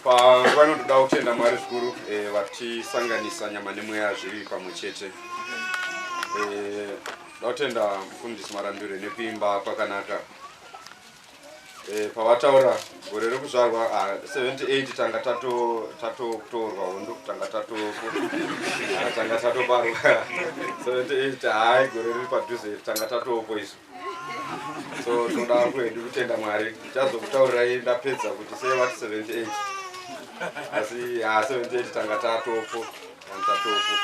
panguva inotoda kutenda mwari zvikuru eh, vatisanganisa nyama nemweya zviri pamwe chete eh, da kutenda mufundisi marambiro nekuimba kwakanaka eh, pavataura gore rekuzvarwa 78 ah, tanga tatokutorwa hondo tanga tatoparwa 78 hai gore riri padhuze tanga tatopo isu so tinoda hangu hedu kutenda mwari chazokutaurirai ndapedza kuti sei vati 78 asi ha 78 tanga tatopo tatopo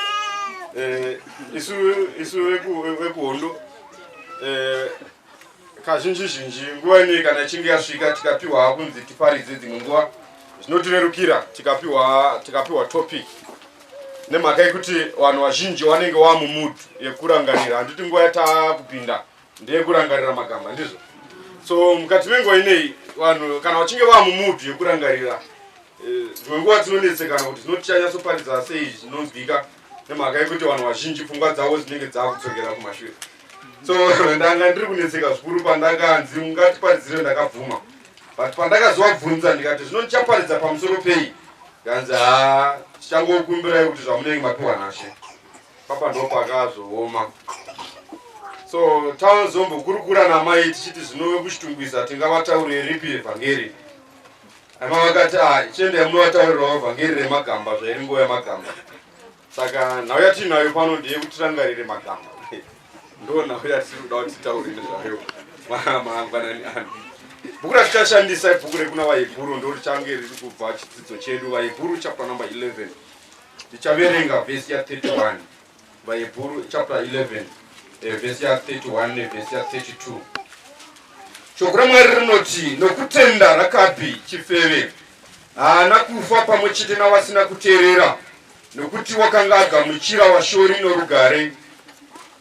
eh, isu isu vekuhondo eh, kazhinji zhinji nguva inei kana ichinge yasvika tikapiwa kunzi tiparidze dzimwe nguva zvinotirerukira tikapiwa tikapiwa topic nemhaka yekuti vanhu vazhinji vanenge vava mumudu yekurangarira handiti nguva yataa kupinda ndeyekurangarira magamba ndizvo so mukati menguva inei vanhu kana vachinge vava mumudu yekurangarira eh, dzimwe nguva dzinonetsekana kuti zinotichanyatsoparidza sei zvinonzwika nemhaka yekuti vanhu vazhinji pfungwa dzavo dzinenge dzava kudzokera kumashure so ndanga ndiri kunetseka zvikuru pandakanzi ungatiparidzire ndakabvuma but pandakazovabvunza ndikati zvino ndichaparidza pamusoro pei Ndanzi haa tichangokumbirai kuti zvamunenge mapiwa nashe papa ndopakazooma so tazombokurukura namai tichiti zvinove kuchitungwiza tingavataurire ripi evhangeri ama vakati ah, chiendai munovataurirawo vhangeri remagamba zvairi nguva yamagamba saka nhau yatiinayo pano ndiye kuti tirangarire magamba ndo nhau yatiri kuda kuti titaure nezvayo mangwanani ano bhuku ratichashandisa ibhuku rekuna vahebhuru ndo richange riri kubva chidzidzo chedu vahebhuru chapter number 11 tichaverenga vhesi ya 31 vahebhuru chapter 11 eh, vhesi ya 31 nevhesi ya 32 shoko ramwari rinoti nokutenda rakapi chifeve haana kufa pamwe chete navasina kuteerera, nokuti wakanga agamuchira vashori norugare.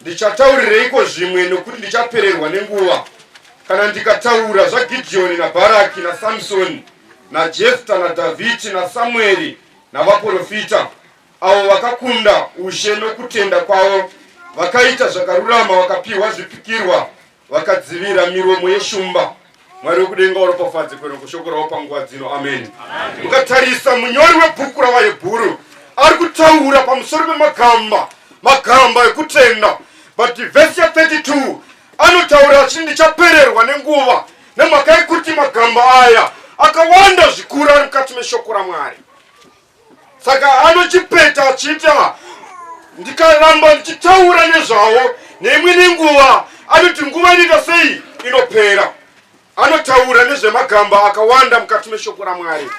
Ndichataurireiko zvimwe, nokuti ndichapererwa nenguva? Kana ndikataura zvaGidhiyoni naBharaki naSamsoni naJefta naDhavhidhi naSamueri navaprofita, avo vakakunda ushe nokutenda kwavo, vakaita zvakarurama, vakapiwa zvipikirwa vakadzivira miromo yeshumba mwari wekudenga waropafadze kwero kushoko ravo panguva dzino ameni ukatarisa munyori webhuku ravayebhuru ari kutaura pamusoro pemagamba magamba ekutenda but vhesi ya 32 anotaura achiti ndichapererwa nenguva nemhaka yekuti magamba aya akawanda zvikuru ari mukati meshoko ramwari saka anochipeta achiita ndikaramba ndichitaura nezvavo neimwe nenguva anoti nguva inoita sei inopera anotaura nezvemagamba akawanda mukati meshoko ramwari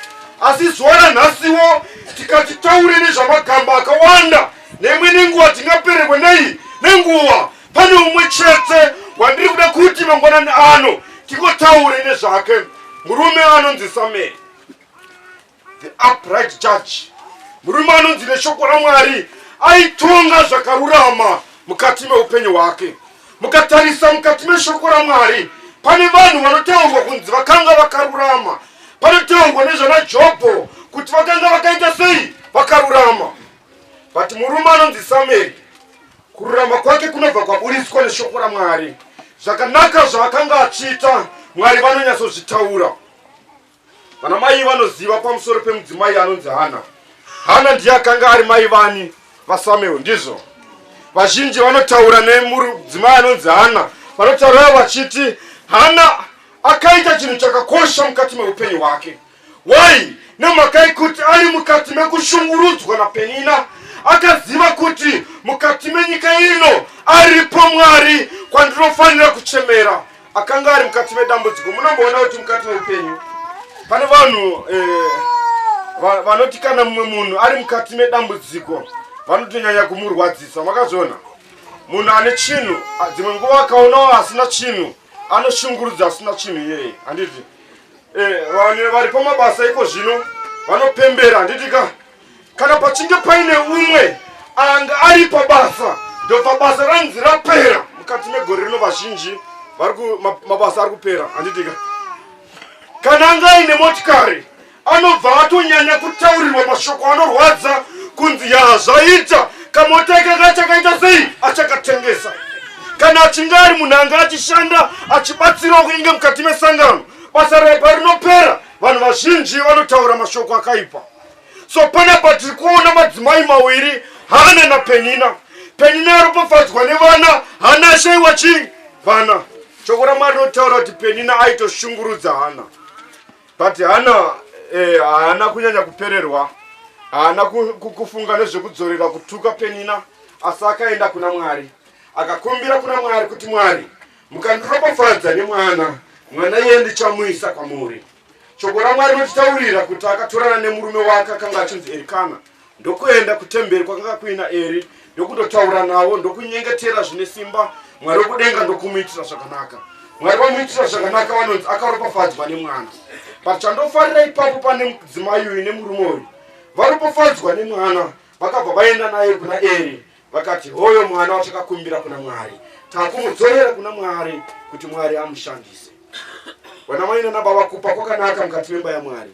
asi zuva ranhasiwo tikati taure nezvamagamba akawanda neimwe nenguva tingapererwe nei nenguva pane umwe chete wandiri kuda kuti mangwanani ano tingotaure nezvake murume anonzi sameri The upright judge, murume anonzi neshoko raMwari aitonga zvakarurama mukati meupenyu hwake. Mukatarisa mukati meshoko raMwari, pane vanhu vanotaurwa kunzi vakanga vakarurama. Panotaurwa nezvana Jobho kuti vakanga vakaita sei vakarurama. But murume anonzi Samueri, kururama kwake kunobva kwaburitswa neshoko raMwari. Zvakanaka zvaakanga achiita, Mwari vanonyatsozvitaura. Vana mai vanoziva pamusoro pemudzimai anonzi Hana. Hana ndiye akanga ari mai vani vaSamuel, ndizvo vazhinji vanotaura nemudzimai anonzi Hana. Vanotaura vachiti Hana akaita chinhu chakakosha mukati meupenyu hwake. Why? Nemhaka yekuti ari mukati mekushungurudzwa naPenina akaziva kuti mukati menyika ino aripo Mwari kwandinofanira kuchemera. akanga ari mukati medambudziko munomboona kuti mukati meupenyu pane vanhu eh, vanoti kana mumwe munhu ari mukati medambudziko vanotonyanya kumurwadzisa makazviona munhu ane chinhu dzimwe nguva akaonawo asina chinhu anoshungurudza asina chinhu iyeye handiti eh, vanhu vari pamabasa iko zvino vanopembera handiti ka kana pachinge paine umwe anga ari pabasa ndobva basa ranzi rapera mukati megore rino vazhinji mabasa ari kupera handitika kana anga aine motikari anobva atonyanya kutaurirwa mashoko anorwadza kunzi yaa zvaita kamota ikanga chakaita sei achakatengesa kana achinge ari munhu anga achishanda achibatsirawo kunenge mukati mesangano basa raipa rinopera vanhu vazhinji vanotaura mashoko akaipa so panapa tiri kuona madzimai mawiri hana napenina penina aropafadzwa nevana hana ashaiwa chii vana shoko ramwari rinotaura kuti penina aitoshungurudza hana but hana eh, haana eh, kunyanya kupererwa haana kufunga nezvekudzorera kutuka penina asi akaenda kuna mwari akakumbira kuna mwari kuti mwari mukandiropafadza nemwana mwana iye ndichamuisa kwamuri Shoko raMwari rinotitaurira kuti akatorana nemurume wake akanga achinzi Erikana ndokuenda kutemberi kwakanga kuina Eri ndokundotaura navo ndokunyengetera zvine simba Mwari wekudenga ndokumuitira zvakanaka. Mwari vamuitira zvakanaka vanonzi akaropafadzwa nemwana. But chandofarira ipapo pane mudzimai uyu nemurume uyu varopafadzwa nemwana vakabva vaenda naye kuna Eri Vakati, Hoyo mwana watakakumbira kuna Mwari, takumudzorera kuna Mwari kuti Mwari amushandise. Vanamai nanababa, kupa kwakanaka mukati memba yaMwari.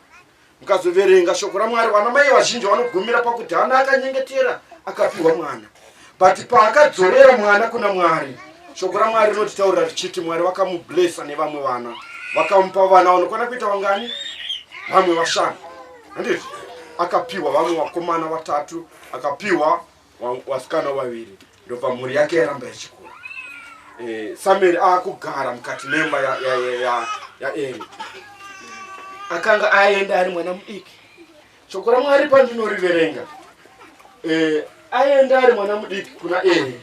Mukazoverenga shoko raMwari, vanamai vazhinji vanogumira pakuti hana akanyengetera akapiwa mwana, but paakadzorera mwana kuna Mwari, shoko raMwari rinotitaurira richiti Mwari vakamublesa nevamwe vana, vakamupa vana vanokwana kuita vangani? Vamwe vashanu, handizvo? Akapiwa vamwe vakomana vatatu, akapiwa wasikana vaviri ndobva mhuri yake yaramba ichikura eh, samueri akugara mukati memba yaeri akanga aenda ari mwana mudiki shoko ramwari pandinoriverenga eh, aenda ari mwana mudiki kuna eri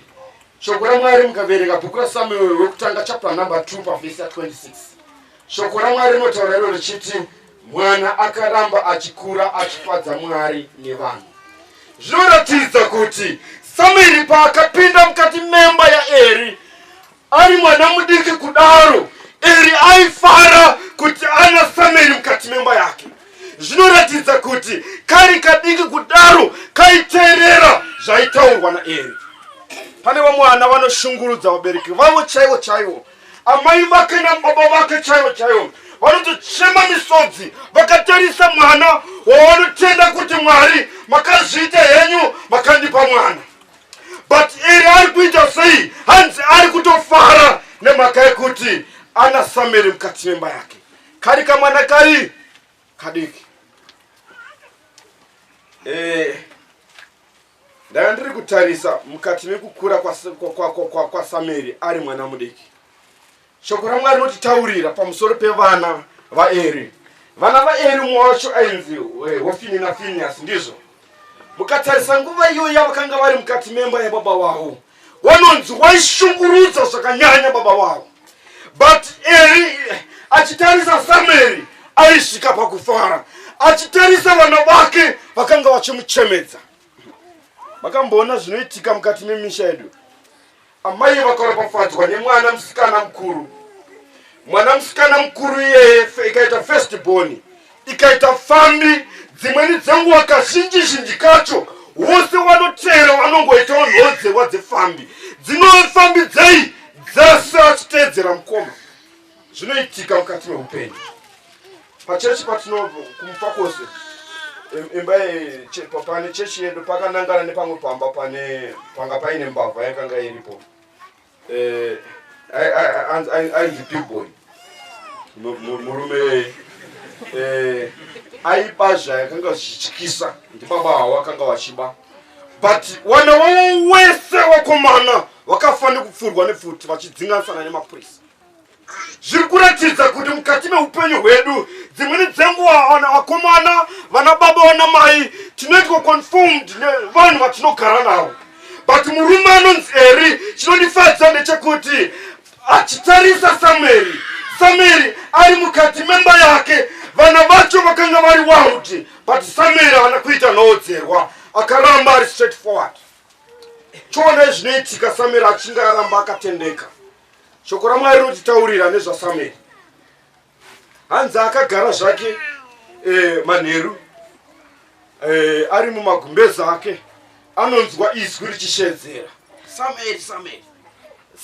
shoko ramwari mukaverenga bhuku rasamueri wekutanga chapter number 2 pavhesi ya 26 shoko ramwari rinotaura iro richiti Mwana akaramba achikura achifadza Mwari nevanhu. Zvinoratidza kuti Samueri paakapinda mukati memba yaEri ari mwana mudiki kudaro, Eri aifara kuti ana Samueri mukati memba yake. Zvinoratidza kuti kari kadiki kudaro kaiteerera zvaitaurwa naEri. Pane vamwe vana vanoshungurudza vabereki vavo chaivo chaivo amai vake nababa vake chaivo chaivo vanotochema misodzi vakatarisa mwana wavanotenda kuti mwari makazviita henyu makandipa mwana but iri ari kuita sei hanzi ari kutofara nemhaka yekuti ana sameri mukati memba yake kari kamwana kari kadiki eh. Ndanga ndiri kutarisa mukati mekukura kwaSameri ari mwana mudiki. Shoko raMwari rinotitaurira pamusoro pevana vaEri. Vana vaEri umwe wacho ainzi eh, Hofini naFiniyasi, ndizvo. Mukatarisa nguva iyoyo yavakanga vari mukati memba yababa wavo wanonzi waishungurudza zvakanyanya baba wavo but eri eh, achitarisa samueri aisvika pakufara achitarisa vana vake vakanga vachimuchemedza makamboona zvinoitika mukati memisha yedu amai vakaropafadzwa nemwana musikana mukuru mwana musikana mukuru iyeye ikaita first boni ikaita pfambi dzimweni dzenguva kazhinji zhinji kacho wose wanoteera wanongoitawo nhodzewa dzepfambi dzinove pfambi dzei dzese achiteedzera mukoma zvinoitika mukati meupenyu pachechi patinokumufa kwose imba pane chechi yedu pakanangana nepamwe pamba pane panga paine mbavha yakanga iripo Eh, ainzi bigboy murume yeye eh, aipa zvayakanga zvichityisa ndibaba havo akanga vachiba but wana wavo wese wakomana vakafa nekupfurwa nepfuti vachidzinganisana nemapurisa zviri kuratidza kuti mukati meupenyu hwedu dzimweni dzenguva vana vakomana vana baba vana mai tinoitwa confirmed nevanhu vatinogara navo but murume anonzi eri chinondifadza ndechekuti achitarisa sameri sameri ari mukati memba yake vana vacho vakanga vari wauti but sameri haana kuita noodzerwa akaramba ari straight forward choonai zvinoitika sameri achinge aramba akatendeka shoko ramwari rinotitaurira nezvasamueri hanzi akagara zvake e, manheru e, ari mumagumbeza ake anonzwa izwi richishedzera samueri samueri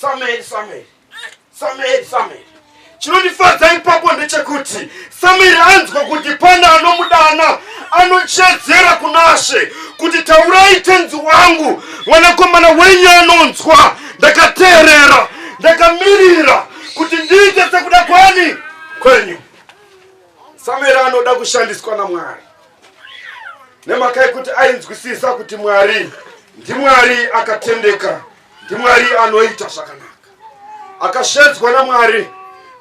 samueri samueri samueri samueri Chinondifadza ipapo ndechekuti Samiri anzwa kuti pane anomudana, anochedzera kunashe kuti taurai tenzi wangu, mwanakomana wenyu anonzwa. Ndakateerera, ndakamirira kuti ndiite sekuda kwani kwenyu. Samiri anoda kushandiswa naMwari nemhaka yekuti ainzwisisa kuti Mwari ndiMwari akatendeka, ndiMwari anoita zvakanaka. akashedzwa namwari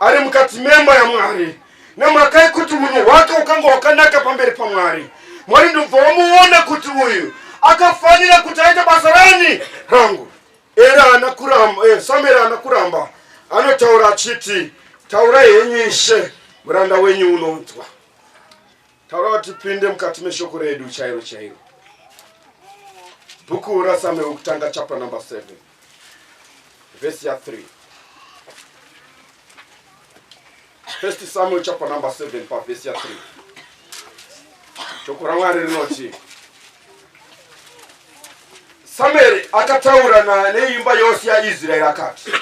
ari mukati memba yamwari nemhaka yekuti unhu hwake ukanga hwakanaka pamberi pamwari mwari ndobva wamuona kuti uyu akafanira kuti aite basa rani rangu era ana kuramba eh, samueri ana kuramba anotaura achiti taura henyu ishe muranda wenyu unonzwa taura vatipinde mukati meshoko redu chairo chairo bhuku rasamueri kutanga chapter number 7 vhesi ya 3 first samuel chapter number 7 pavhesi ya 3 shoko ramwari rinoti samueri akataura neimba yose yaisraeri akati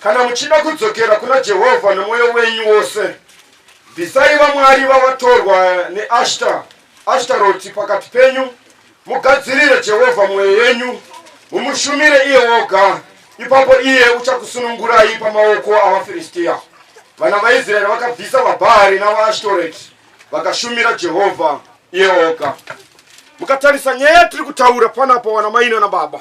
kana muchida kudzokera kuna jehovha nemwoyo wenyu wose bvisai vamwari vavatorwa neashta ashtaroti pakati penyu Mugadzirire Jehovha mwoyo yenyu, mumushumire iye woga, ipapo iye uchakusunungurai pamaoko avaFiristia. Vana vaIsraeri vakabvisa vaBhaari navaAshtoreti vakashumira Jehovha iye woga. Mukatarisa nyaya yatiri kutaura panapa, wana maina nababa,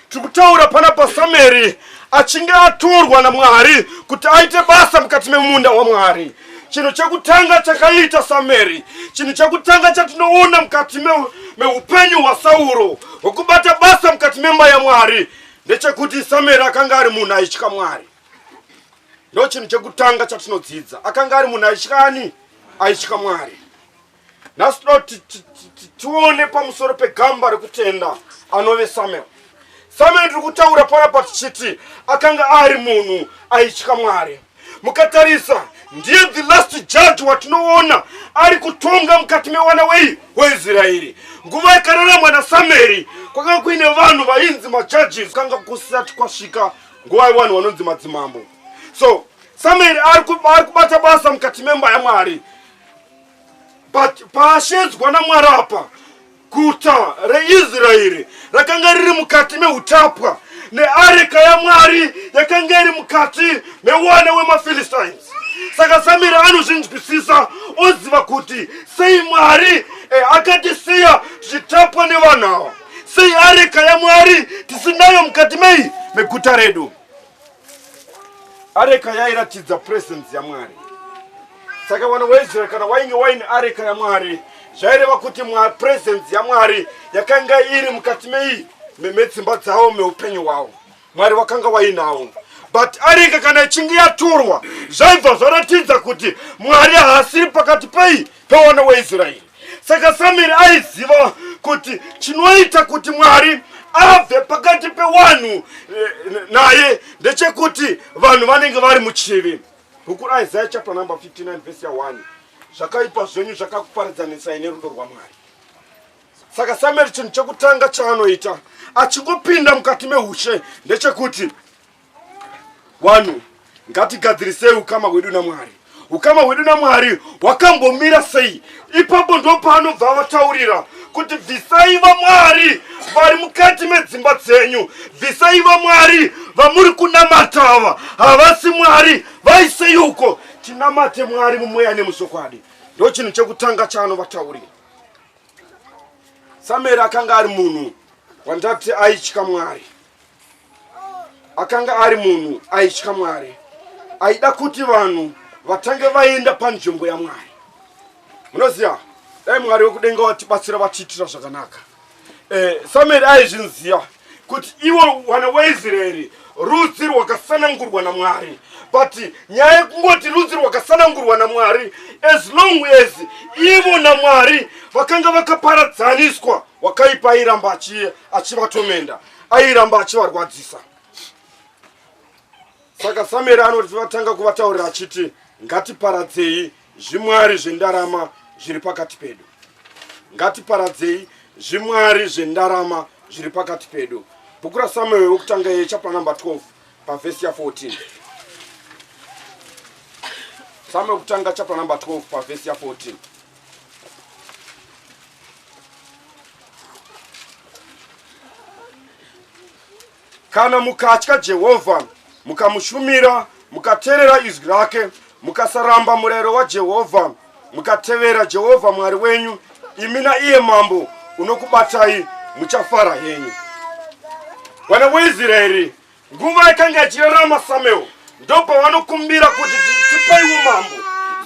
Tikutaura pana paSamueri achinge atorwa naMwari kuti aite basa mukati memunda waMwari. Chinhu chekutanga chakaita Samueri, chinhu chekutanga chatinoona mukati meupenyu me hwaSauro hwekubata basa mukati memba yaMwari ndechekuti Samueri akanga ari munhu aitya Mwari. Ndo chinhu chekutanga chatinodzidza, akanga ari munhu aitya ani? Aitya Mwari. nhasi toda kuti tione pamusoro pegamba rekutenda anove samuel samuel ndiri kutaura panapa tichiti akanga ari munhu aitya mwari mukatarisa ndiye the last judge watinoona ari kutonga mukati mewana wei weisraeri nguva yakararamwa nasamueri kwakanga kuine vanhu vainzi majudges kanga kusati kwasvika nguva yevanhu vanonzi madzimambo so samueri ari kubata basa mukati memba yamwari but paashedzwa namwari apa guta reisraeri rakanga riri mukati meutapwa neareka yamwari yakanga iri mukati mewana wemafilistines saka samiri anozvinzwisisa oziva kuti sei mwari eh, akatisiya tichitapwa nevanhu ava sei areka yamwari tisinayo mukati mei meguta redu areka yairatidza presence yamwari saka vana waisraeri kana wainge waine areka yamwari zvaireva kuti presence yamwari yakanga iri mukati mei memetsimba dzavo meupenyu hwavo mwari wakanga wainawo but areka kana ichinge yatorwa zvaibva zvaratidza kuti mwari haasiri pakati pei pevana waisraeri Saka Samueri aiziva kuti chinoita kuti Mwari abve pakati pewanhu eh, naye ndechekuti vanhu vanenge vari muchivi. Bhuku raIsaya chapter number 59 verse 1 zvakaipa zvenyu zvakakuparidzanisai nerudo rwaMwari. Saka Samueri chinhu chekutanga chaanoita achingopinda mukati meushe ndechekuti Wanhu, ngatigadzirisei ukama hwedu naMwari. Ukama hwedu naMwari hwakambomira sei? Ipapo ndo paanobva vataurira kuti bvisai vamwari vari mukati medzimba dzenyu, bvisai vamwari vamuri kunamata ava, havasi Mwari, vaisei uko, tinamate Mwari mumweya nemuchokwadi. Ndo chinhu chekutanga chaanovataurira. Samueri akanga ari munhu wandati aitya Mwari. akanga ari munhu aitya mwari aida kuti vanhu vatange vaenda panzvimbo yamwari munoziva dai mwari wekudenga watibatsira vatiitira zvakanaka eh, samueri aizvinziva kuti iwo wana waisraeri rudzi rwakasanangurwa namwari but nyaya yekungoti rudzi rwakasanangurwa namwari as long as ivo namwari vakanga vakaparadzaniswa wakaipa iramba achivatomenda achi airamba achivarwadzisa saka samueri anoti vatanga kuvataurira achiti ngatiparadzei zvimwari zvendarama zviri pakati pedu ngatiparadzei zvimwari zvendarama zviri pakati pedu bhuku rasamueri wekutanga ye chapter number 12 pavhesi ya 14 samueri kutanga chapter number 12 pavhesi ya 14 kana mukatya jehovha mukamushumira mukateerera izwi rake mukasaramba murayiro wajehovha mukatevera jehovha mwari wenyu imi naiye mambo unokubatai muchafara henyu vana weisraeri Nguva yakanga ichirarama Samuel ndopavanokumbira kuti tipaiwo mambo.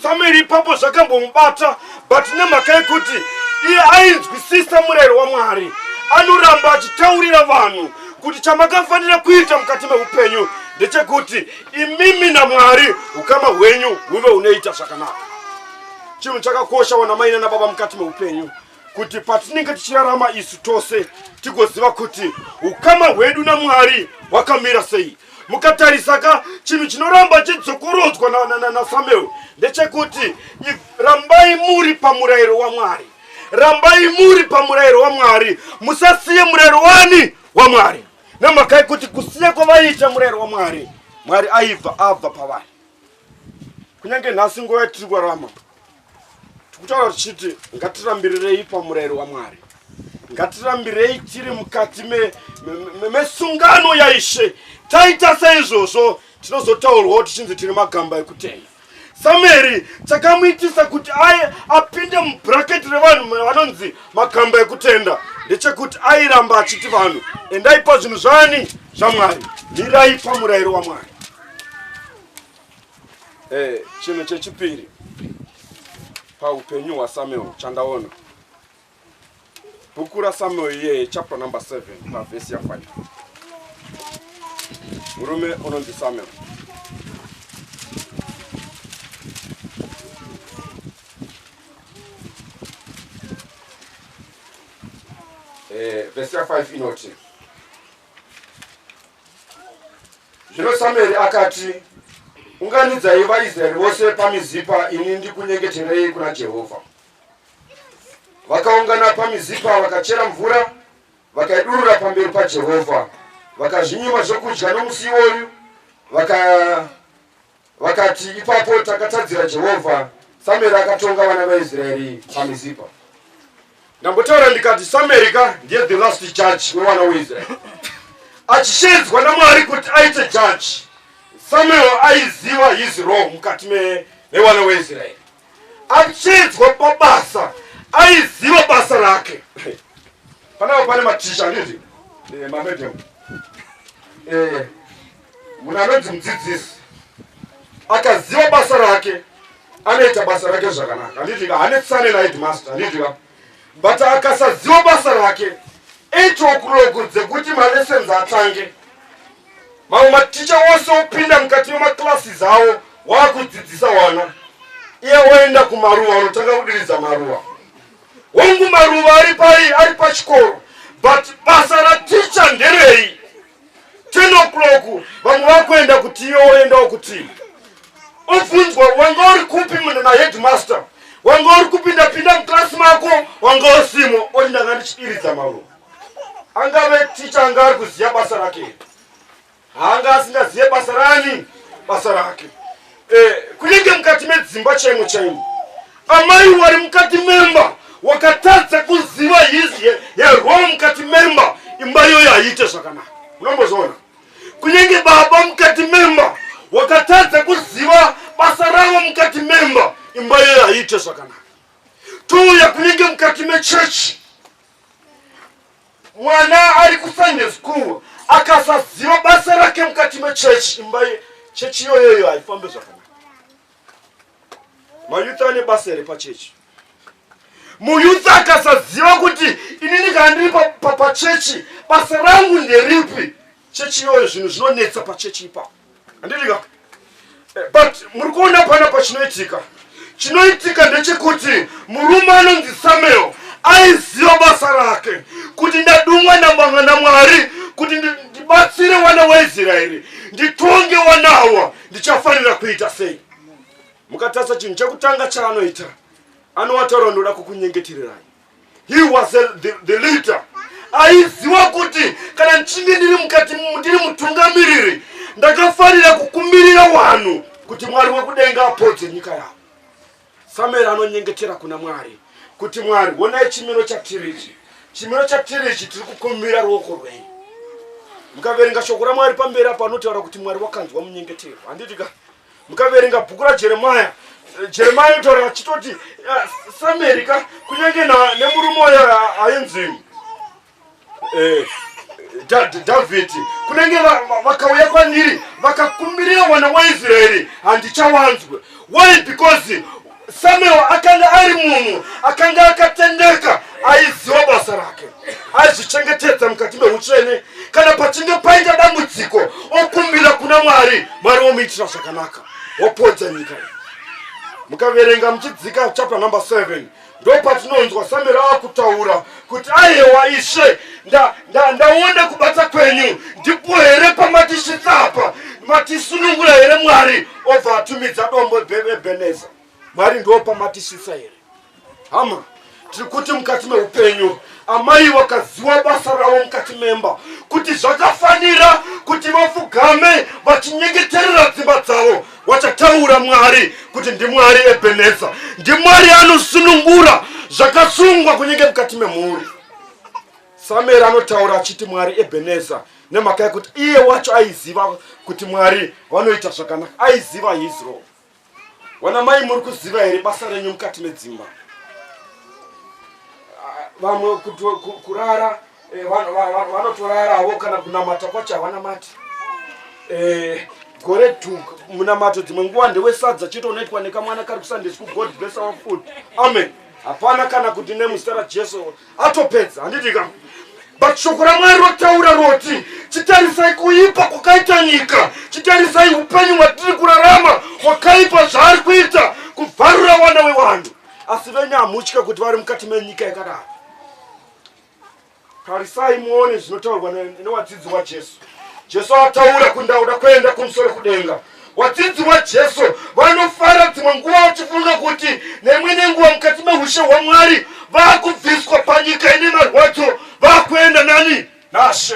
Samuel ipapo zvakambomubata but nemhaka yekuti iye ainzwisisa murayiro waMwari anoramba achitaurira vanhu kuti chamakafanira kuita mukati meupenyu ndechekuti imimi namwari ukama hwenyu huve unoita zvakanaka chinhu chakakosha wana mai nana baba mukati meupenyu kuti patinenge tichirarama isu tose tigoziva kuti ukama hwedu namwari hwakamira sei mukatarisa ka chinhu chinoramba chidzokorodzwa nasamuel ndechekuti rambai muri pamurayiro wamwari rambai muri pamurayiro wamwari musasiye murayiro wani wamwari nemakai kuti kusiya kwavaiita murayiro wamwari mwari aibva abva pavari kunyange nhasi nguva yatiri kurarama tikutaura tichiti ngatirambirirei pamurayiro wamwari ngatirambirei tiri mukati mesungano me, me, me yaishe taita seizvozvo tinozotaurwawo tichinzi tiri magamba ekutenga samueri chakamuitisa kuti aye apinde mubraketi revanhu vanonzi magamba ekutenda ndechekuti airamba achiti vanhu endaipa zvinhu zvani zvamwari mirai pamurayiro wamwari Eh, chinhu chechipiri paupenyu hwasamuel chandaona bhuku rasamuel iyeye chapter number 7 pavhesi ya5 murume unonzi samuel eh, vhesi ya5 inoti Zvino Samueri akati, Unganidzai vaIsraeri vose paMizipa, ini ndikunyengeterei kuna Jehovha. Vakaungana paMizipa, vakachera mvura, vakaidurura pamberi paJehovha, vakazvinyima zvokudya nomusi iwoyu, vaka Vakati, Ipapo takatadzira Jehovha. Samueri akatonga vana vaIsraeri paMizipa. Ndambotaura ndikati Samueri ka ndiye the last judge wevana weIsraeri. Achishedzwa naMwari kuti aite judge. Samuel aiziva his role mukati mevana weIsraeri. Achishedzwa pabasa aiziva basa rake. Panapa pane maticha ndizvi. Eh, mamedevu. Eh, Munhu anonzi mudzidzisi akaziva basa rake anoita basa rake zvakanaka anditika hanetsane naedmaster anditika but akasaziva basa rake itokurogo dzekuti malessons atange mamwe maticha wose opinda mukati memaclasses avo waakudzidzisa wana iye woenda kumaruva unotanga kudiridza maruva hongu maruva ari pai ari pachikoro but basa raticha nderei 10 o'clock vamwe vakuenda kuti iwe woendawo kuti obvunzwa wanga uri kupi munhu naheadmaster wanga uri kupinda pinda muklasi mako wanga usimo oti ndanga ndichidiridza maruva angave ticha anga ari kuziva basa rake haanga asingazive basa rani basa rake Eh, kunenge mukati medzimba chaimo chaimo. Amai wari mukati memba wakatadza kuziva hizi yarwao mukati memba imba iyoyo haiite zvakanaka. Unombozoona. Kunenge baba mukati memba wakatadza kuziva basa ravo mukati memba imba iyoyo haiite zvakanaka. Touya kunenge mukati mechechi mwana ari kusunday school akasaziva basa rake mukati mechechi imba chechi iyoyoyo haifambe zvakanaka mayouth ane basa here pachechi muyouth akasaziva kuti inini kana ndiri pachechi basa rangu nderipi chechi iyoyo zvinhu zvinonetsa pachechi ipapo handitika eh, but muri kuona pana pachinoitika chinoitika ndechekuti murume anonzi samuel aiziva basa rake kuti ndadungwa namanga namwari kuti ndibatsire wana waisraeri nditonge wanawa ndichafanira kuita sei mukatarisa chinhu chekutanga chaanoita anowataura ndoda kukunyengetirirai He was a, the, the leader. Aiziwa kuti kana ndichinge ndiri mukati ndiri mutungamiriri ndakafanira kukumbirira wanhu kuti Mwari wekudenga apodze nyika yavo. Samueri anonyengetera kuna Mwari kuti Mwari wonai chimiro chatiri ichi. Chimiro chatiri ichi tiri kukumbira ruoko rwenyu. Mukaverenga shoko raMwari pamberi apa anotaura kuti Mwari wakanzwa munyengetero. Handiti ka? mukaverenga bhuku rajeremaya jeremia yotaura achitoti ah, sameri ka kunyange nemurume wayo ainzi eh, dhavhidhi kunenge vakauya kwandiri vakakumbirira mwana waisraeri handichawanzwe why because Samuel akanga ari munhu akanga akatendeka aiziva basa rake aizvichengetedza mukati meutsvene kana pachinge paita dambudziko okumbira kuna mwari mwari womuitira zvakanaka wopodza nyika iyi mukaverenga muchidzika chapter number 7 ndopatinonzwa samuel akutaura kuti ayewa ishe ndaona nda, kubata kwenyu ndipo here pamatisvitsa apa matisunungura here mwari obva atumidza dombo bebeneza mwari ndiwo pamatisvitsa here hama tiri kuti mukati meupenyu amai vakaziva basa ravo mukati memba kuti zvakafanira kuti vafugame vachinyengeterera dzimba dzavo wachataura mwari kuti ndimwari ebeneza ndimwari anosunungura zvakasungwa kunenge mukati memhuri samueri anotaura achiti mwari ebeneza nemhaka yekuti iye wacho aiziva kuti mwari vanoita zvakanaka aiziva hizro wana mai muri kuziva here basa renyu mukati medzimba ah, vamwe kurara Eh, vanotorarawo kana kunamata kwacho havanamati eh, gore tu munamato dzimwe nguva ndewesadza chete unoitwa nekamwana kari kusandesi kugod bless our food amen hapana kana kuti nemuzita rajesu atopedza handiti ka but shoko ramwari rotaura roti chitarisai kuipa kwakaita nyika chitarisai upenyu hwatiri kurarama hwakaipa zvaari kuita kuvharura wana wewanhu asi venyu hamutya kuti vari mukati menyika yakadaro tarisai muone zvinotaurwa newadzidzi wajesu jesu ataura kundauda kuenda kumusoro kudenga wadzidzi wajesu vanofara dzimwe nguva vachifunga kuti nemwe nenguva mukati meushe hwamwari vakubviswa panyika ine marwadzo vakuenda nani nashe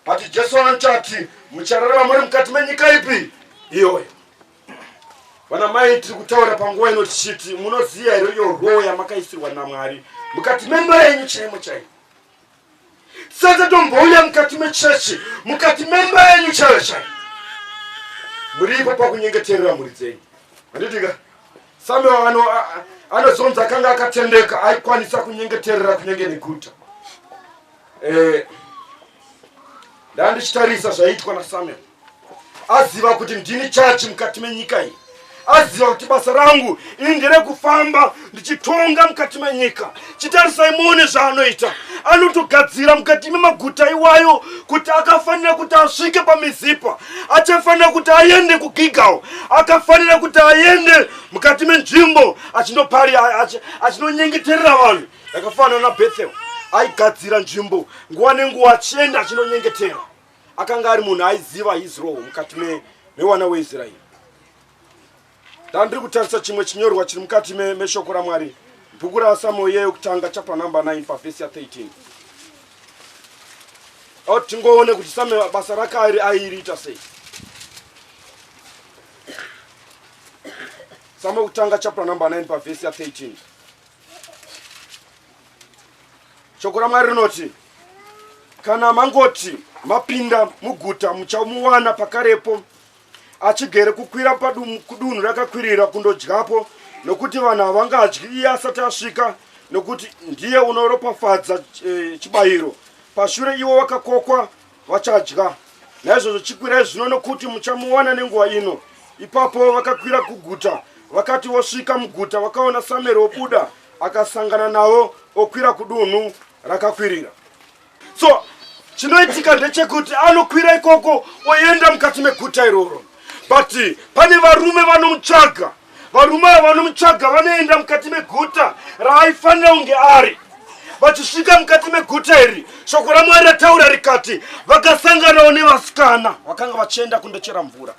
but jesu anoti muchararama muri mukati menyika ipi iyoyo Vana mai tiri kutaura panguva ino tichiti munoziva here iyo roho yamakaisirwa naMwari mukati memba yenyu chaimo chaimo. Sasa tombouya mukati mechechi mukati memba yenyu chaiyo chaiyo. Muripo pakunyengeterera mhuri dzenyu. Handitika Samuel ano anozonzi akanga akatendeka aikwanisa kunyengeterera kunenge neguta. Eh, ndandichitarisa zvaitwa naSamuel. aziva kuti ndini chachi mukati menyika iyi aziva kuti basa rangu ini nderekufamba ndichitonga mukati menyika chitarisai muone zvaanoita anotogadzira mukati memaguta iwayo kuti akafanira kuti asvike pamizipa achafanira kuti aende kugigawo akafanira kuti aende mukati menzvimbo achinopari achinonyengeterera vanhu yakafanana nabethel aigadzira nzvimbo nguva nenguva achienda achinonyengetera akanga ari munhu aiziva his role mukati mewana weisraeri ndandiri kutarisa chimwe chinyorwa chiri mukati meshoko ramwari bhuku rasamuel iye yokutanga chapter number 9 pavhesi ya 13 o tingoone kuti samuel basa rake airi airiita sei samuel kutanga chapter number 9 pavhesi ya 13 shoko ramwari rinoti kana mangoti mapinda muguta muchamuwana pakarepo achigere kukwira kudunhu rakakwirira kundodyapo nokuti vanhu havangadyi iye asati asvika nokuti ndiye unoropafadza eh, chibayiro pashure iwo wakakokwa vachadya naizvozvo chikwirai zvino nokuti muchamuwana nenguva ino ipapo vakakwira kuguta vakati vosvika muguta vakaona samueri wobuda akasangana navo okwira kudunhu rakakwirira so chinoitika ndechekuti anokwira ikoko oenda mukati meguta iroro but pane varume vanomutsvaga Varume ava vanomutsvaga vanoenda mukati meguta raaifanira kunge ari. Vachisvika mukati meguta iri, shoko raMwari rataura rikati, vakasanganawo nevasikana vakanga vachienda kundochera mvura.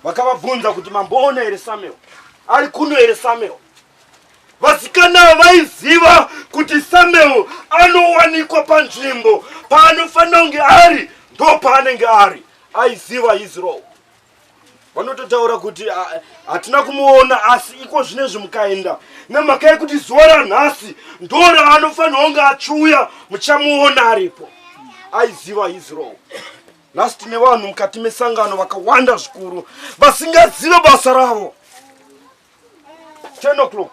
Vakavabvunza kuti, Mamboona here Samuel? Ari kuno here Samuel? vasikana vaiziva kuti samuel anowanikwa panzvimbo paanofanira kunge ari ndo paanenge ari aiziva israel vanototaura kuti hatina kumuona asi iko zvine zvimukaenda nemhaka yekuti zuva ranhasi ndora anofanira kunge achiuya muchamuona aripo aiziva his role nhasi tine vanhu mukati mesangano vakawanda zvikuru vasingazive basa ravo 10 o'clock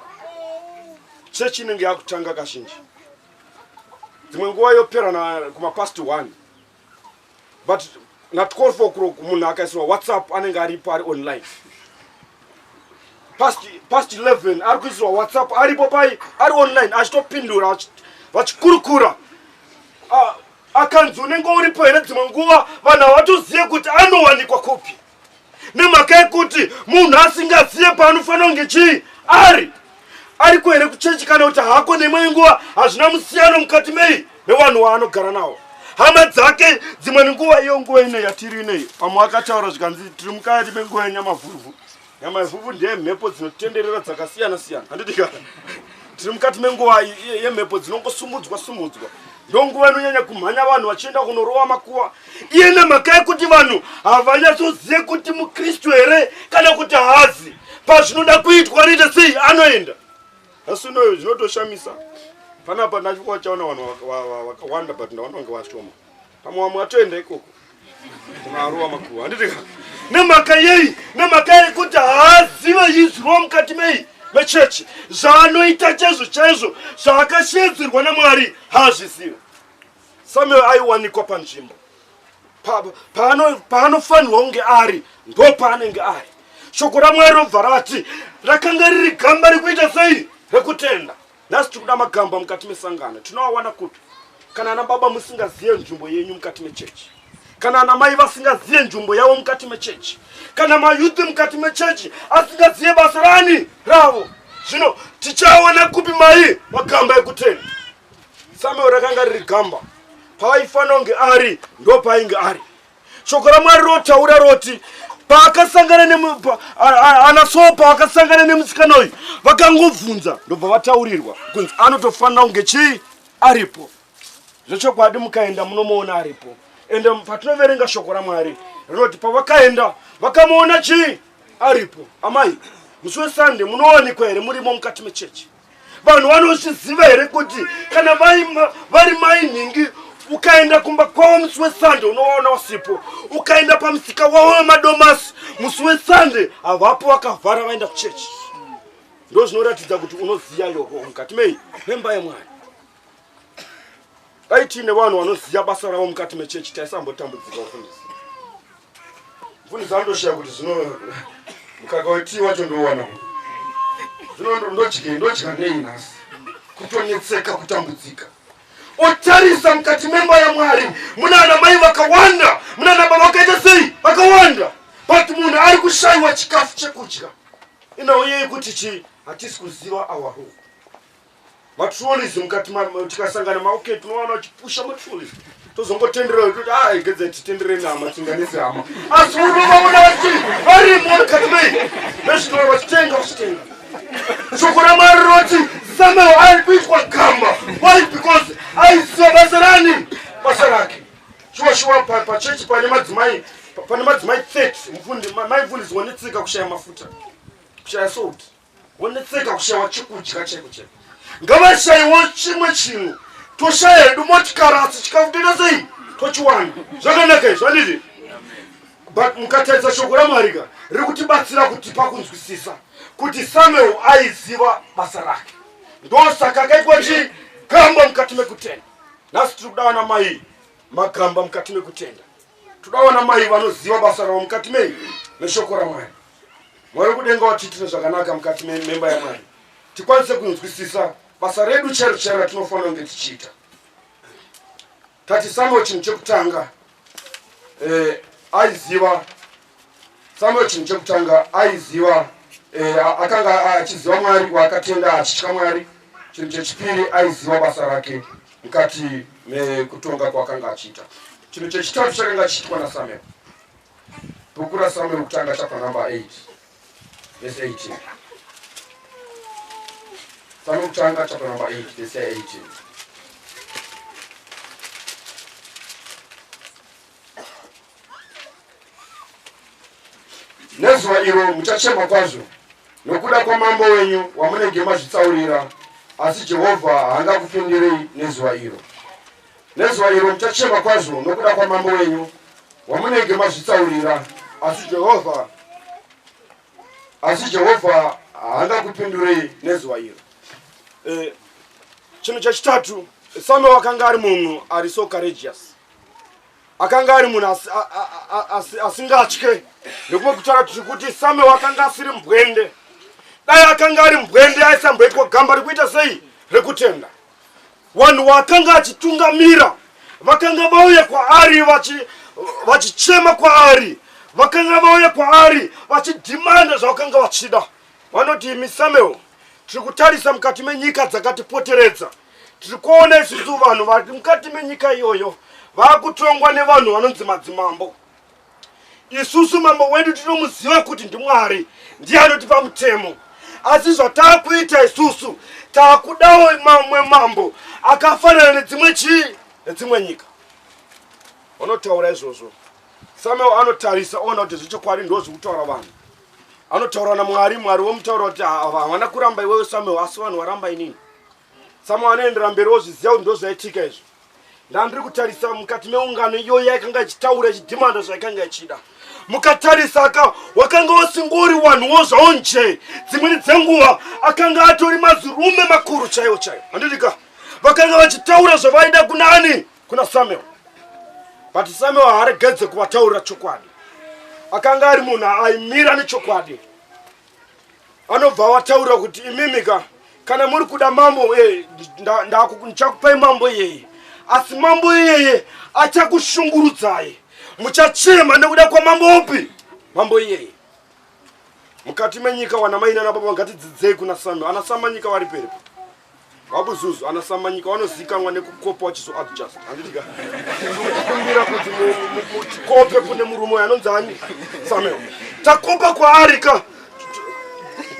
chechi inenge yakutanga kazhinji dzimwe nguva yoperana kumapast one but na 12 o'clock munhu akaisirwa whatsapp anenge aripo ari online past past 11 ari kuisirwa whatsapp aripo pai ari online achitopindura vachikurukura akanzi unenge uripo here dzimwe nguva vanhu havatozive kuti anowanikwa kupi nemhaka yekuti munhu asingazive paanofanira kunge chii ari ariko here kuchechi kana kuti hako neimwe nguva hazvina musiyano mukati mei mevanhu waanogara nawo hama dzake dzimwe nguva iyo nguva ino yatiri inei pamwe akataura zvikanzi tiri mukati menguva yenyamavhuvhu nyamavhuvhu ndeye mhepo dzinotenderera dzakasiyana siyana handiti ka tiri mukati menguva yemhepo dzinongosumudzwa sumudzwa ndonguva inonyanya kumhanya vanhu vachienda kunorowa makuva iye nemhaka yekuti vanhu havanyatsozive kuti mukristu here kana kuti haazi pazvinoda kuitwa anoita sei anoenda asi unoyo zvinotoshamisa panapa ndachikuwa chaona vanhu vakawanda but ndaona kunge vashoma pamwe vamwe vatoenda ikoko kunaruwa makuru handiti ka nemhaka yei nemhaka yekuti haazive izwiwa mukati mei mechechi zvaanoita chaizvo chaizvo zvaakashedzerwa namwari haazvizive Samuel aiwanikwa panzvimbo paanofanirwa kunge ari ndo paanenge ari shoko ramwari robva rati rakanga riri gamba rekuita sei rekutenda nhasi tiri kuda magamba mukati mesangano tinoawana kupi kana ana baba musingazive nzvimbo yenyu mukati mechechi kana ana mai vasingazive nzvimbo yavo mukati mechechi kana mayuthi mukati mechechi asingazive basa rani ravo zvino tichaona kupi mai magamba ekutenda Samuel rakanga riri gamba paaifanira kunge ari ndo paainge ari shoko ramwari rotaura roti paakasangana neana soo paakasangana nemusikana uyu vakangobvunza ndobva vataurirwa kunzi anotofanira kunge chii aripo zvechokwadi mukaenda munomuona aripo ende patinoverenga shoko ramwari rinoti pavakaenda vakamuona chii aripo amai musi wesande munowanikwa here murimo mukati mechechi vanhu vanozviziva here kuti kana vari mai nhingi ukaenda kumba kwavo musi wesande unovaona usipo ukaenda pamusika wavo wemadomasi musi wesande havapo vakavhara vaenda kuchechi ndo zvinoratidza kuti unoziva yoho mukati mei memba yemwana dai tiine vanhu vanoziva basa ravo mukati mechechi taisambotambudzika mufundisi mfundisi andoshaya kuti zvino mukaka wetii wacho ndouwana zvino ndodye ndodya nei nhasi kutonetseka kutambudzika otarisa mukati memba yamwari muna ana mai vakawanda muna ana baba vakaita sei vakawanda but munhu ari kushayiwa chikafu chekudya inauye yekuti chii hatisi kuziva awaho matrolleys mukati mamo tikasangana maoke tinowana uchipusha matrolleys tozongotenderera kuti a ah, igedza titendere nama tinganise hama asi unovaona vati varimo mukati mei vezvinova vachitenga vachitenga shoko ramwari rinoti samuel ari kuitwa gamba why because aiziva basa rani basa rake shuwa shuwa pachechi pane madzimai pane madzimai 30 mfundi mai mfundisi wanetsika kushaya mafuta kushaya salt wonetseka kushayiwa chekudya cheko cheko ngavashayiwo chimwe chinhu toshaya hedu motikari asi chikafu toita sei tochiwana zvakanaka izvi andizvi but mukatarisa shoko ramwari ka riri kutibatsira kuti pakunzwisisa kuti samuel aiziva basa rake ndosaka akaitwa chii gamba mukati mekutenda nhasi tiri kuda vana mai magamba mukati mekutenda toda vana mai vanoziva basa ravo mukati mei neshoko ramwari mwari wekudenga watiitire zvakanaka mukati mememba yamwari tikwanise kunzwisisa basa redu chairo chairo ratinofanira kunge tichiita tatisambo chinhu chekutanga eh, aiziva samuel chinhu chekutanga aiziva eh, akanga achiziva mwari waakatenda achitya mwari chinhu chechipiri aiziva basa rake mukati mekutonga kwaakanga achiita chinhu chechitatu chakanga chiitwa nasamuel Bhuku raSamueri wokutanga chapter number 8 verse 18. Samueri wokutanga chapter number 8 verse 18. Nezuva iro muchachema kwazvo nokuda kwamambo wenyu wamunenge mazvitsaurira, asi Jehovha haangakupindirei nezuva iro. Nezuva iro muchachema kwazvo nokuda kwamambo wenyu wamunenge mazvitsaurira, asi Jehovha asi Jehovha haangakupindurei nezuva iro. Eh, chinhu chechitatu Samuel akanga ari munhu ari so courageous akanga ari munhu asingatye nekumwe kutaura kuti kuti Samuel akanga asiri mbwende dai akanga ari mbwende aisamboitwa gamba rekuita sei rekutenda Vanhu vakanga achitungamira vakanga vauya kwaari vachi vachichema kwaari vakanga vauya kwaari vachidhimanda zvavakanga vachida vanoti imi samuel tiri kutarisa mukati menyika dzakatipoteredza tiri kuona isusu vanhu vari mukati menyika iyoyo vakutongwa nevanhu vanonzi madzimambo Isusu mambo wedu tinomuziva kuti ndiMwari ndiye anotipa mutemo, asi zvataakuita isusu taakudawo mamwe mambo akafanana nedzimwe chii nedzimwe nyika. Vanotaura izvozvo Samuel anotarisa oona kuti zvechokwadi ndo zvekutaura vanhu. Anotaura naMwari, Mwari womutaura kuti havana kuramba iwewe Samuel, asi vanhu waramba inini. Samuel anoendera mberi ozviziva kuti ndozvaitika izvo. Ndandiri kutarisa mukati meungano iyoyo yaikanga ichitaura ichidhimanda zvaikanga ichida. Mukatarisa ka wakanga wasingori wanhuwo zvawo nje. Dzimweni dzenguva akanga atori mazirume makuru chaiwo chaiwo. Handiti ka vakanga vachitaura zvavaida kuna ani? Kuna Samuel. But Samuel haaregedze kuvataurira chokwadi. Akanga ari munhu aimira nechokwadi. anobva wataura kuti imimika kana muri kuda mambo eh, ndichakupai mambo iyeye asi mambo iyeye achakushungurudzai muchachema nekuda kwamambo upi mambo iyeye mukati menyika wana mai nana baba ngatidzidzei kuna sami ana samanyika vari peripo wabuzuzu anasamanyika wanozikanwa nekukopa wachizo adjust handitika kumbira kuti muchikope kune murume uyo anonzi ani samuel takopa kwaari ka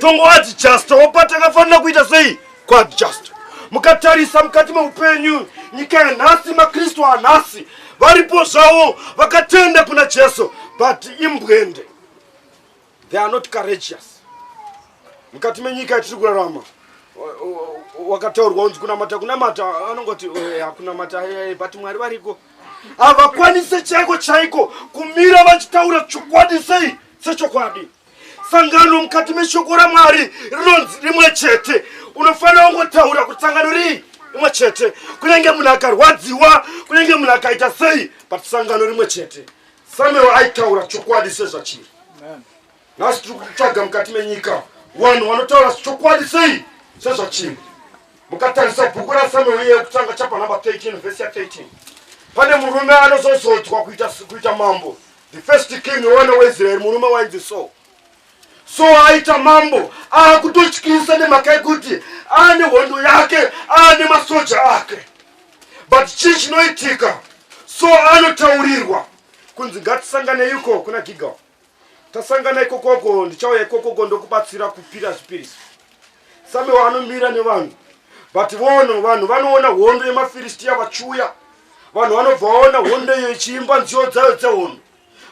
tongo adjust wopa takafanira kuita sei kuadjust mukatarisa mukati meupenyu nyika yanhasi makristu anhasi varipo zvavo vakatenda kuna jesu but imbwende they are not courageous mukati menyika yatiri kurarama wakataurwa unzi kunamata kunamata anongoti eh, hakunamata eh, eh, but mwari variko havakwanise chaiko chaiko kumira vachitaura chokwadi sei sechokwadi sangano mukati meshoko ramwari rinonzi rimwe chete unofanira kungotaura kuti sangano rii rimwe chete kunenge munhu akarwadziwa kunenge munhu akaita sei but sangano rimwe chete Samuel aitaura chokwadi sezvachiri. Nhasi tiri kutsvaga mukati menyika vanhu vanotaura chokwadi sei sezvachiri. Mukatarisa bhuku raSamuel iye kutanga chapa number 13 vhesi ya 13 pane murume anozozodzwa kuita mambo the first king one weisraeri murume wainzi so so aita mambo akutotyisa nemhaka yekuti ane hondo yake ane masoja ake but chii chinoitika so anotaurirwa kunzi ngatisanganei uko kuna gigal tasangana ikokoko ndichauya ikokoko ndokubatsira kupira zvipiriso same waanomira nevanhu but vono vanhu vanoona hondo yemafiristiya vachiuya vanhu vanobva vaona hondo iyo ichiimba nziyo dzayo dzehondo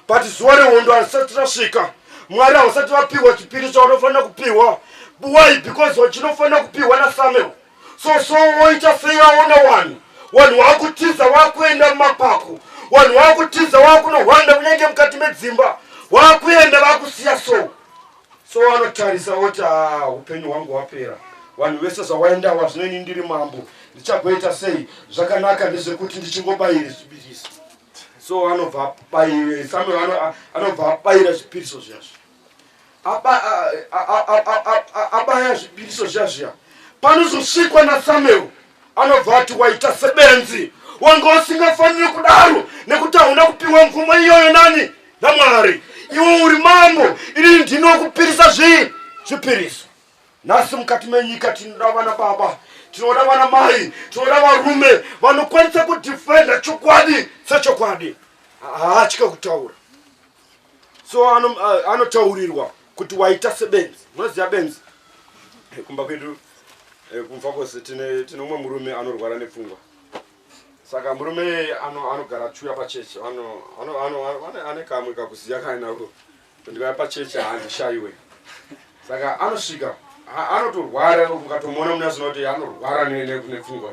but zuva rehondo harisati rasvika mwari hausati vapihwa chipiri chaunofanira kupihwa why because wachinofanira kupihwa nasamuel so so woita sei aona wanhu wanhu wakutiza wakuenda mumapako wanhu wakutiza wakunohwanda kunyange mukati medzimba wakuenda vakusiya so so wanotarisa woti ah, upenyu hwangu hwapera vanhu vese zvawaenda wa zvinoini ndiri mambo ndichagoita sei zvakanaka ndezvekuti ndichingobayiri zvibirisi so anobva abaira samuel anobva abaira zvipiriso zviya zviya abaya zvipiriso zviya zviya panozosvikwa nasamuel anobva ati waita sebenzi wanga usingafaniri kudaro nekuti hauna kupiwa mvumo iyoyo nani namwari iwe uri mambo ini ndinokupirisa zvii zvipiriso nhasi mukati menyika tinoda vana baba tinoda vana mai tinoda varume vanokwanisa kudefenda chokwadi sechokwadi haatya kutaura so anotaurirwa ano kuti waita sebenzi munoziva benzi eh, kumba kwedu eh, kumfa kwose tine umwe murume anorwara nepfungwa saka murume anogara ano chuya pachechi ane kamwe kakuziya kainako Ndikauya pachurch handishaiwe. Saka anosvika anotorwara ukatomuona muna zvinoti kuti anorwara nepfungwa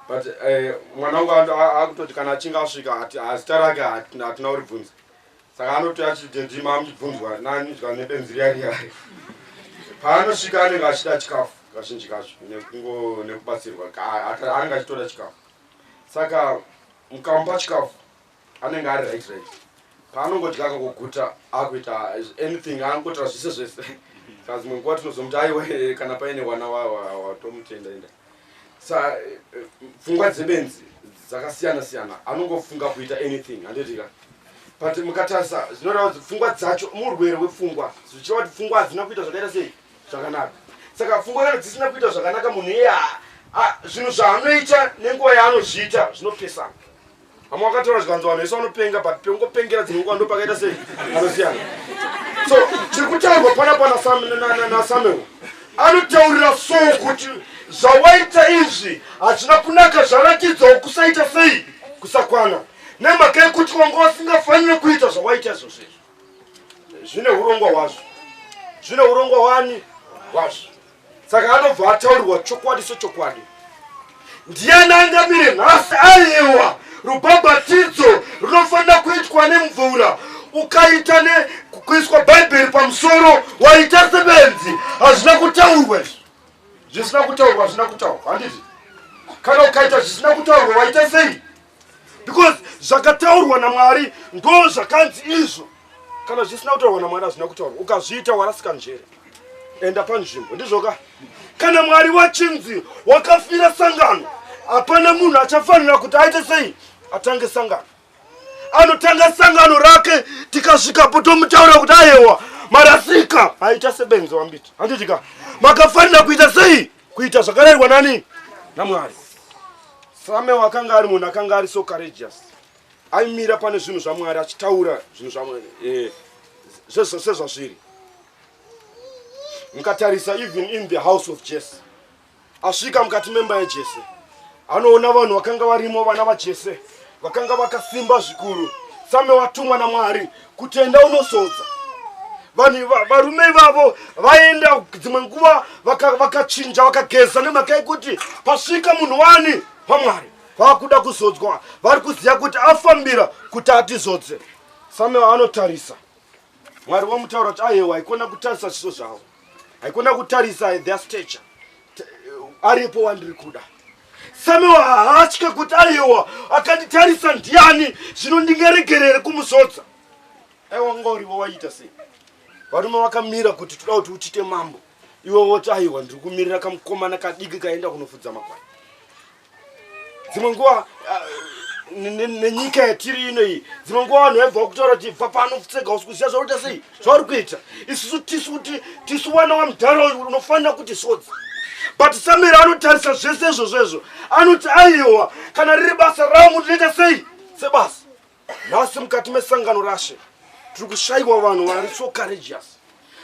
but eh, mwana wangu akutoti kana achinge asvika hazita rake hatina uribvunza saka anoti achidedima amuchibvunzwa nanizwa nebenzi riya riya paanosvika anenge achida chikafu kazhinji kacho nekungo nekubatsirwa anenge achitoda chikafu saka mukamupa chikafu anenge ari right right paanongodya kakoguta akuita anything angotra zvese zvese ka zimwe nguva tinozomuti aiwa kana paine wana watomutenda enda sa eh, pfungwa dzebenzi dzakasiyana siyana anongofunga kuita anything handitika but mukatarisa zvinoreva kuti pfungwa dzacho murwere wepfungwa zvichireva kuti pfungwa hadzina kuita zvakaita sei zvakanaka saka pfungwa kana dzisina kuita zvakanaka munhu iye zvinhu zvaanoita nenguva yaanozviita zvinopesana vamwe vakataura zvikanzi vanhu vese vanopenga but pekungopengera dzimwe nguva ndopakaita sei anosiyana so chiri kutaurwa pana panasamuel anotaurira so kuti zvawaita izvi hazvina kunaka zvaratidzawo kusaita sei kusakwana nemhaka yekuti wanga wasingafanire kuita zvawaita izvozvo izvo zvine urongwa hwazvo zvine urongwa wani hwazvo saka anobva ataurirwa chokwadi sechokwadi ndiani angamire nhasi aiwa rubhabhatidzo runofanira kuitwa nemvura ukaita nekuiswa bhaibheri pamusoro waita sebenzi hazvina kutaurwa izvi zvisina kutaurwa hazvina kutaurwa handiti kana ukaita zvisina kutaurwa waita sei because zvakataurwa namwari ndo zvakanzi izvo kana zvisina kutaurwa namwari hazvina kutaurwa ukazviita warasika njere enda panzvimbo ndizvoka kana mwari wachinzi wakafira sangano hapana munhu achafanira kuti aite sei atange sangano anotanga sangano rake tikasvikapo tomutaura kuti ayewa marasika aita sebenzi wambiti handitika makafanira kuita sei kuita zvakarayirwa nani namwari same wakanga ari munhu akanga ari so courageous aimira pane zvinhu zvamwari achitaura zvinhu zvamwari eh, sezvazviri mukatarisa even in the house of jese asvika mukati memba yajese anoona vanhu vakanga varimo vana vajese vakanga vakasimba zvikuru same watumwa namwari kuti enda unozodza vanhu varume ivavo vaenda dzimwe nguva vakachinja vaka vakageza nemhaka yekuti pasvika munhu wani pamwari vakuda kuzodzwa vari kuziva kuti afambira kuti atizodze same anotarisa Mwari wamutaura kuti ayewa haikona kutarisa zviso zvavo. Haikona kutarisa their stature. Aripo wandiri kuda. Samewa haatye kuti ayewa akanditarisa ndiani zvino ndingaregerere kumusodza. Aiwa ngorivo waita sei? Varume vakamira kuti toda kuti uchite mambo. Iwe woti ayewa ndiri kumirira kamukomana kadiki kaenda kunofudza makwai. dzimwe nguva ah, nenyika yatiri ino iyi dzimwe nguva vanhu vaibva kutaura kuti bva pano tsega usi kuziva zvakuita sei zvauri kuita isusu tisu kuti tisu vana wamudhara uyu unofanira kuti sodzi but samira anotarisa zvese izvozvo izvo anoti aiwa kana riri basa rangu ndinoita sei sebasa nhasi mukati mesangano rashe tiri kushayiwa vanhu vari so courageous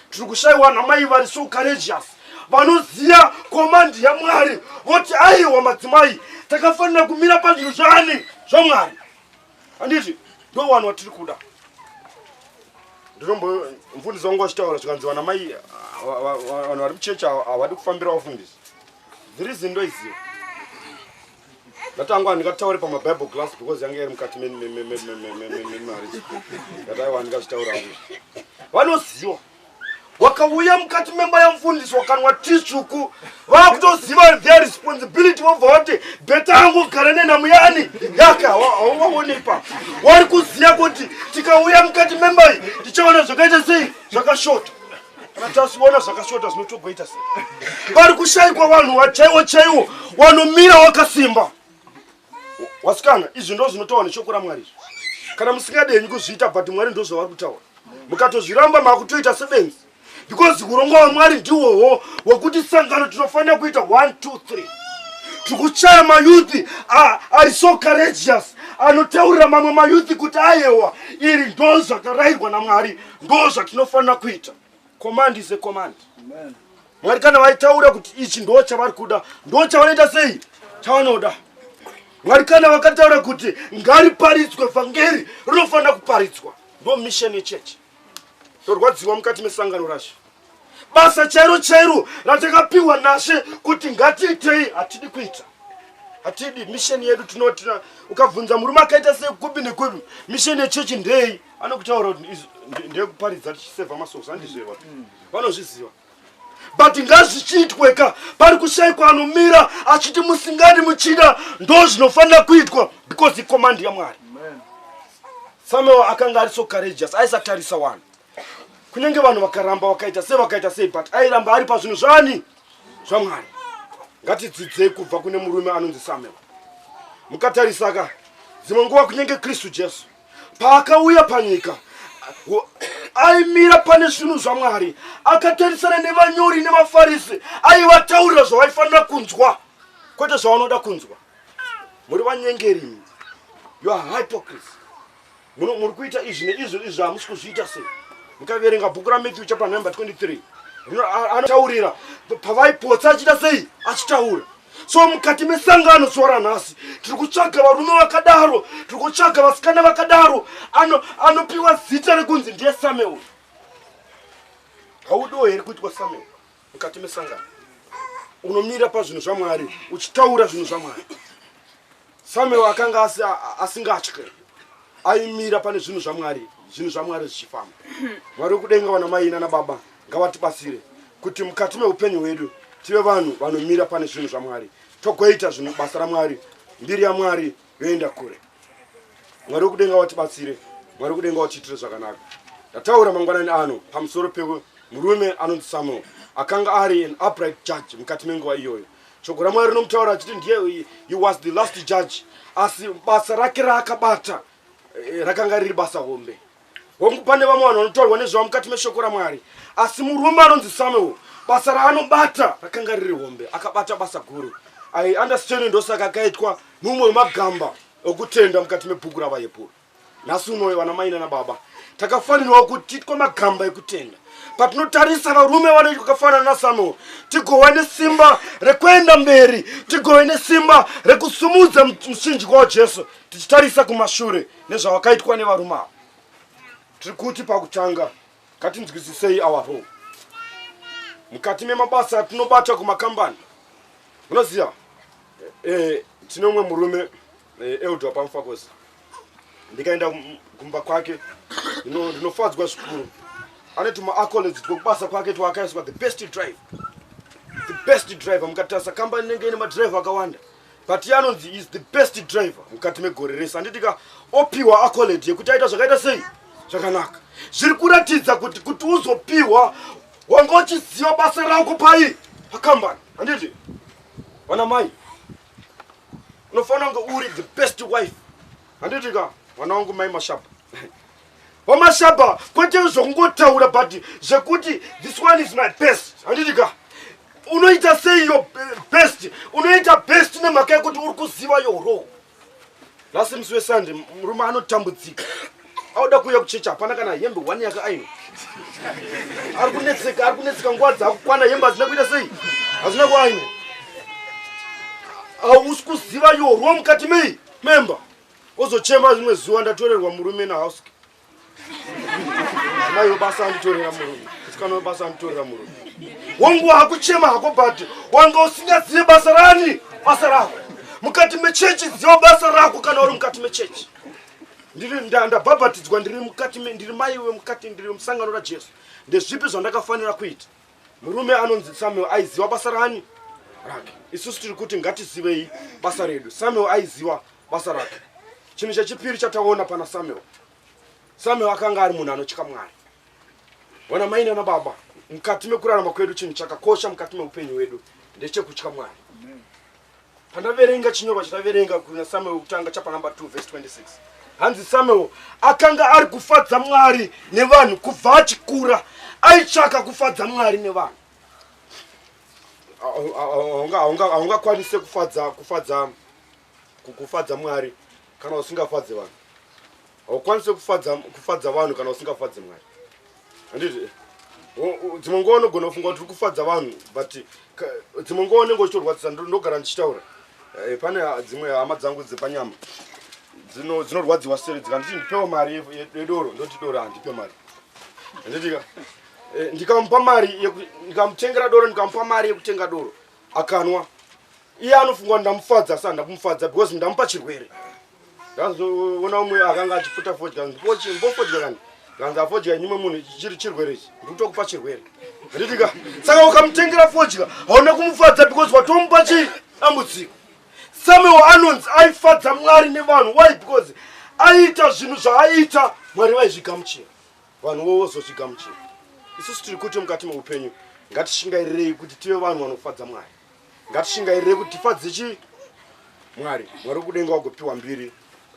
tiri kushayiwa namai vari so courageous vanoziva komandi yamwari voti aiwa madzimai takafanira kumira pazvinhu zvaani zvamwari handiti ndo vanhu vatiri kuda ndinombo mfundisi wangu vachitaura zvikanzi vana mai vanhu vari kuchechi havadi kufambira vafundisi dziri zindo iziva ndatanga handingataure pamabible glass because yange iri mukati memarriage ngataiwa handingazvitaura hangu vanoziva wakauya mukati memba yamfundisi wakanwa ti tsvuku vakutoziva their responsibility vobva vati beta yangu gara nenhamo yani yake hauvaonepa wari kuziva kuti tikauya mukati memba iyi tichaona zvakaita sei zvakashota tasiona zvakashota zvinotogoita se vari kushaikwa vanhu wachaiwo chaiwo wanomira wakasimba wasikana izvi ndo zvinotaura neshoko ramwari izvi kana musingadenyi kuzviita but mwari ndo zvavari kutaura mukatozviramba makutoita sebenzi because urongwa hwamwari ndiwowo wekuti sangano tinofanira kuita 1 2 3 tikuchaya mayuthi ari so courageous anotaurira mamwe mayuthi kuti ayewa iri ndo zvakarayirwa namwari ndoo zvatinofanira kuita command is a command mwari kana vaitaura kuti ichi ndoo chavari kuda ndoo chavanoita sei chavanoda mwari kana vakataura kuti ngariparidzwe vhangeri rinofanira kuparidzwa ndo mission yechechi torwadziwa mukati mesangano racho basa chairo chairo ratakapiwa nashe kuti ngatiitei hatidi kuita hatidi misheni yedu tinoti ukabvunza murume akaita sekupi nekupi misheni yechechi ndei anokutaura kuti ndeyekuparidza tichiseva masoso andizvewa mm. vanozviziva but ngazvichiitwe ka pari kushaikwa anomira achiti musingani muchida ndo zvinofanira kuitwa because ikomandi yamwari samuel akanga ari so courageous aisatarisa wani kunyange vanhu vakaramba vakaita sei vakaita sei but airamba ari pazvinhu zvani zvamwari ngatidzidzei kubva kune murume anonzi samuel mukatarisaka dzimwe nguva kunyange kristu jesu paakauya panyika aimira pane zvinhu zvamwari akatarisana nevanyori nevafarisi aivataurira zvavaifanira kunzwa kwete zvavanoda kunzwa muri vanyengeri you are hypocrisy Muno muri kuita izvi neizvo izvo hamusi kuzviita sei? Mukaverenga bhuku raMatthew chapter number 23 anotaurira pavaipotsa achita sei achitaura so mukati mesangano zuva ranhasi tiri kutsvaga varume vakadaro tiri kutsvaga vasikana vakadaro anopiwa ano zita rekunzi ndiye samuel haudiwo here kuitwa samuel mukati mesangano unomira pazvinhu zvamwari uchitaura zvinhu zvamwari samuel akanga asingatye aimira pane zvinhu zvamwari zvinhu zvamwari zvichifamba mwari wekudenga vana mai nana baba ngavatibatsire kuti mukati meupenyu hwedu tive vanhu vanomira pane zvinhu zvamwari togoita zvinhu basa ramwari mbiri yamwari yoenda kure mwari wekudenga watibatsire mwari wekudenga watiitire zvakanaka ndataura mangwanani ano pamusoro pewe murume anonzi samuel akanga ari an upright judge mukati menguva iyoyo shoko ramwari rinomutaura achiti ndiye he was the last judge asi basa rake raakabata eh, rakanga riri basa hombe hongu pane vamwe vanhu vanotaurwa nezvavo mukati meshoko ramwari asi murume anonzi samuel basa raanobata rakanga riri hombe akabata basa guru i understand ndosaka akaitwa mumwe wemagamba okutenda mukati mebhuku ravaepuro nhasi unoyo vana mai nana baba takafanirwa kuti titwe magamba ekutenda patinotarisa varume vanoitwa kafanana nasamuel tigove nesimba rekuenda mberi tigove nesimba rekusumudza muchinjikwa wajesu tichitarisa kumashure nezvawakaitwa nevarume ava tiri kuti pakutanga ngatinzwisisei our role mukati memabasa atinobata kumakambani unoziva e, eh, eh, tine umwe murume e, eh, eldwa pamufakosi ndikaenda kumba kwake ndinofadzwa zvikuru ane tumaacolage twekubasa kwake twaakaiswa the best drive the best driver mukatarisa kambani inenge ine madriver akawanda but iye anonzi is the best driver mukati megore rese handiti ka opiwa acoled yekuti aita zvakaita sei zvakanaka zviri kuratidza kuti kuti uzopiwa wanga uchiziva basa rako pai pakambani handiti vana mai unofanira kunge uri the best wife handiti ka mwana wangu mai mashapa wamashaba kwete zvokungotaura but zvekuti this one is my best handiti ka unoita sei yo best unoita best nemhaka yekuti uri kuziva yoro lasi musi wesande murume anotambudzika auda kuuya kuchecha hapana kana hembe one yake aino ari kunetseka ari kunetseka nguva dzakukwana hembe hadzina kuita sei hadzina kuaino hausi kuziva yorwo mukati mei memba ozochema rimwe zuva ndatorerwa murume nahouse mai webasa anditorera murume musikana webasa anditorera murume wangu hakuchema hako but wanga usingazive basa rani basa rako mukati mechechi ziva basa rako kana uri mukati mechechi ndabhabhatidzwa ndiri mukati ndiri mai wemukati ndiri musangano rajesu ndezvipi zvandakafanira kuita murume anonzi samuel aiziva basa rani rake isusu tiri kuti ngatizivei basa redu samuel aiziva basa rake chinhu chechipiri chataona pana samuel samuel akanga ari munhu anotya mwari ona mai nana baba mukati mekurarama kwedu chinhu chakakosha mukati meupenyu hwedu ndechekutya mwari pandaverenga chinyorwa chataverenga kuna samuel wekutanga chapa number 2 vhesi 26 hanzi samuel akanga ari kufadza mwari nevanhu kubva achikura aitsvaka kufadza mwari nevanhu haungakwanise kufadza kufadza kufadza mwari kana usingafadze vanhu haukwanise kufadza kufadza vanhu kana usingafadzi mwari handiti dzimwe nguva unogona kufunga kuti uri kufadza vanhu but dzimwe nguva unenge uchitorwadzisa ndogara ndichitaura eh, pane dzimwe hama dzangu dzepanyama dzinorwadziwa seri dzikanditi ndipewo mari yedoro ndoti doro handipe mari handitika eh, ndikamupa mari ndikamutengera doro ndikamupa mari yekutenga doro akanwa iye anofunga kuti ndamufadza asi handakumufadza because ndamupa chirwere ndazoona umwe akanga achiputa fodya mbofodya kani kanzi afodya nyimwe munhu chiri chirwere ichi ndikutokupa chirwere handitika saka ukamutengera fodya hauna kumufadza because watomupa chii dambudziko samuel anonzi aifadza mwari nevanhu why because aiita zvinhu zvaaiita mwari vaizvigamuchira vanhu vovozozvigamuchira isusu tiri kuti mukati meupenyu ngatishingairirei kuti tive vanhu vanofadza mwari Ngatishingairire kuti tifadze chi Mwari, Mwari kudenga wagopiwa mbiri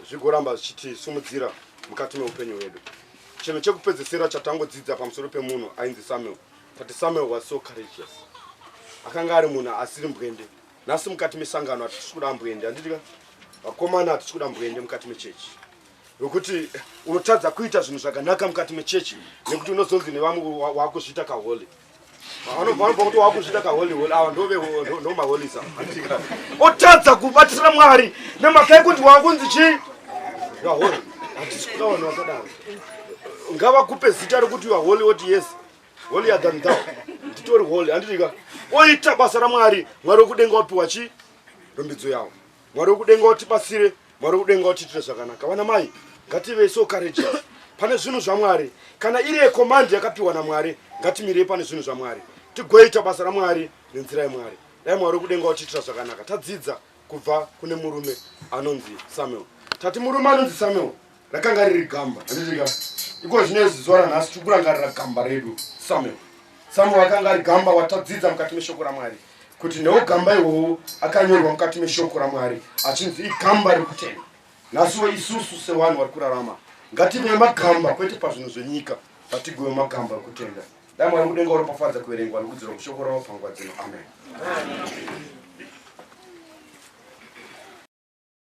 zvigoramba zvichiti sumudzira mukati meupenyu hwedu. Chinhu chekupedzesera chatangodzidza pamusoro pemunhu ainzi Samuel, tati Samuel was so courageous. Akanga ari munhu asiri mbwende. Nhasi mukati mesangano hatisi kuda mbwende, handidika vakomana hatisi kuda mbwende mukati mechechi wekuti unotadza kuita zvinhu zvakanaka mukati mechechi nekuti unozonzi nevamwe wakuzviita kaholi vanobva kuti wakuzvita kaholiholi awa ndomaholisa otadza kubatisira mwari nemhaka yekuti wakunzi chii vaholi hatisi kuda vanhu vakadaro ngavakupe zita rekuti vaholi oti yes holi yadhandhao nditori holi handitika oita basa ramwari mwari wekudenga wapiwa chii rombidzo yavo Mwari wekudenga utibatsire, Mwari wekudenga utiitire zvakanaka. Vana mai, ngative so courageous pane zvinhu zvaMwari. Kana iri yecommand yakapiwa naMwari, ngatimirei pane zvinhu zvaMwari. Tigoita basa raMwari nenzira yeMwari. Dai Mwari wekudenga utiitira zvakanaka. Tadzidza kubva kune murume anonzi Samuel. Tati murume anonzi Samuel. rakanga riri gamba handitika iko zvine zuva ranhasi tiri kurangarira gamba redu samuel samuel akanga ari gamba watadzidza mukati meshoko ramwari kuti newo gamba iwowo akanyorwa mukati meshoko ramwari achinzi igamba rekutenda nhasiwo isusu sevanhu vari kurarama ngative magamba kwete pazvinhu zvenyika vatigove magamba rekutenda dai mwari mudenga uropafadza kuverengwa nokudzirwa mushoko ravo pangwa dzino amen, amen.